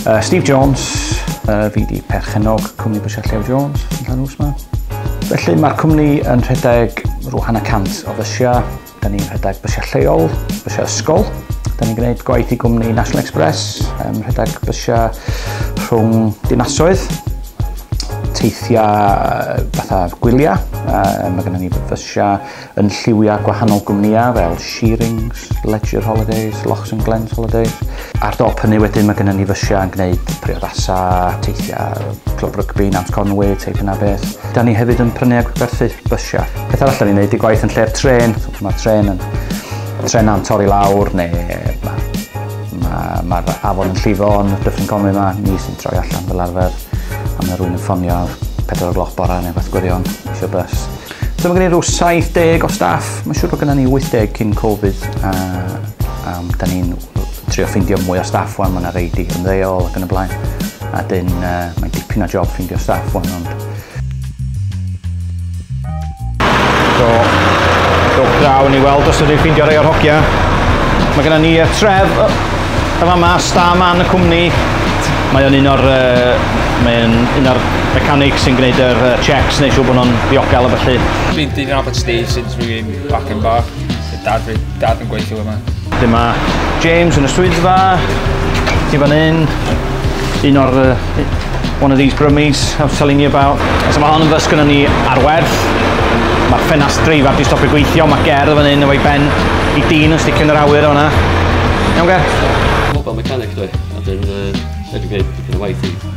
Uh, Steve Jones, uh, fi di perchenog cwmni Bwysiau Llew Jones yn Llanws yma. Felly mae'r cwmni yn rhedeg rhyw hanner cant o fysiau. Da ni'n rhedeg bysiau lleol, bysiau ysgol. Da ni'n gwneud gwaith i gwmni National Express, yn rhedeg bysiau rhwng dinasoedd. teithiau fatha gwyliau. Uh, mae gennym ni fysiau yn lliwiau gwahanol gwmnïau fel Shearings, Ledger Holidays, Lochs and Glens Holidays. Ar dop hynny wedyn mae gennym ni fysiau yn gwneud priodasau, teithiau, clwb rygbi, Nant Conwy, teip yna beth. Da ni hefyd yn prynu a gwerthu bysiau. Peth arall da ni'n gwneud i gwaith yn lle'r tren. Mae'r tren yn tren am torri lawr neu Mae ma afon yn llifo yn Dyffryn Conwy yma, ni sy'n troi allan fel arfer. A mae rhywun yn ffonio 4 o gloch bora neu beth gwirion, eisiau bus. So mae gen i rhyw 70 o staff, mae'n siŵr bod gen ni 80 cyn Covid, a, a da ni'n trio ffeindio mwy o staff wan, mae yna reidi yn ddeol ac yn y blaen. A dyn, uh, mae'n dipyn o job ffeindio staff wan, ond Do, do grawn i weld os ydych ffeindio rei o'r hogia. Mae gennym ni uh, tref y fama, star man y cwmni. Mae o'n un o'r, uh, mae o'n un o'r mechanic sy'n gwneud yr uh, checks neu siw bod nhw'n ddiogel a felly. Been doing Abbott Steve since we've been back in bar. Dad fi. Dad yn gweithio yma. Dyma James yn y swyddfa. Ti fan hyn. Un o'r... Uh, one of these brummies I was telling you about. So mae hon yn fys gyda ni ar werth. Mae ffenast dreifaf di stopio gweithio. Mae ger fan hyn efo'i ben i dyn yn sticio yn yr awyr o'na. Iawn ger? Mobile mechanic dwi. A dyn... Uh, dwi'n gwneud dipyn o waith i.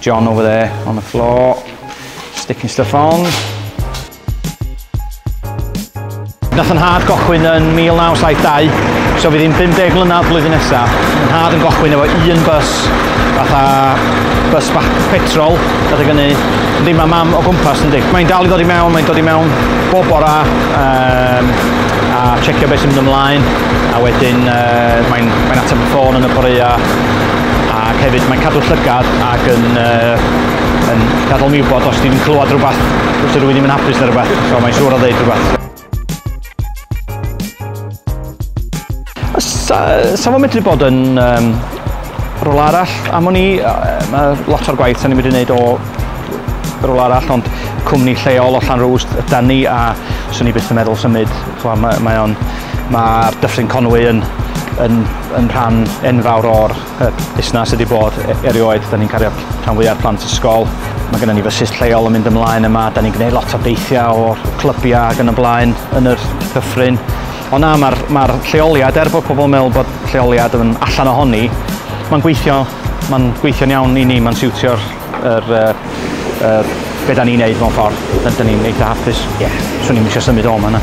John over there on the floor, sticking stuff on. Nath yn hard gochwyn yn 1972, so fydd hi'n 50 mlynedd blwyddyn nesaf. Yn hard yn gochwyn efo un bus, fatha bus bach petrol, gyda gyni ddim am am o gwmpas yn di. Mae'n dal i ddod i mewn, mae'n dod i mewn bob bora, um, a checio beth sy'n mynd ymlaen, a wedyn uh, mae'n mae ateb y ffôn yn y boreau, Ac hefyd mae'n cadw llygad ac yn, uh, yn gadael mi wybod os ti'n clywed rhywbeth, os ydw i ddim yn hapus neu rhywbeth, so mae'n siŵr o ddeud rhywbeth. Sa, sa fo'n medru bod yn um, rôl arall am o'n i, mae lot o'r gwaith sa'n ni'n medru gwneud o rôl arall, ond cwmni lleol o Llanrwst ydan ni a swn i byth yn meddwl symud. Mae'r mae, mae Dyffryn Conwy yn, yn, yn rhan enfawr o'r Y busnes ydi bod, erioed, 'da ni'n cario rhan fwya o'r plant ysgol. Mae gennym ni fysus lleol yn mynd ymlaen yma, 'da ni'n gwneud lot o deithiau o'r clybiau ac yn y blaen yn yr Dyffryn. Ond na, mae'r ma lleoliad, er bod pobl yn meddwl bod lleoliad yn allan ohoni, mae'n gweithio, mae'n gweithio'n iawn i ni, mae'n siwtio'r yr, uh, uh, be da ni'n neud mewn ffordd, da ni'n eitha hapus. Ie. Yeah. Swn i'n eisiau symud o yma na.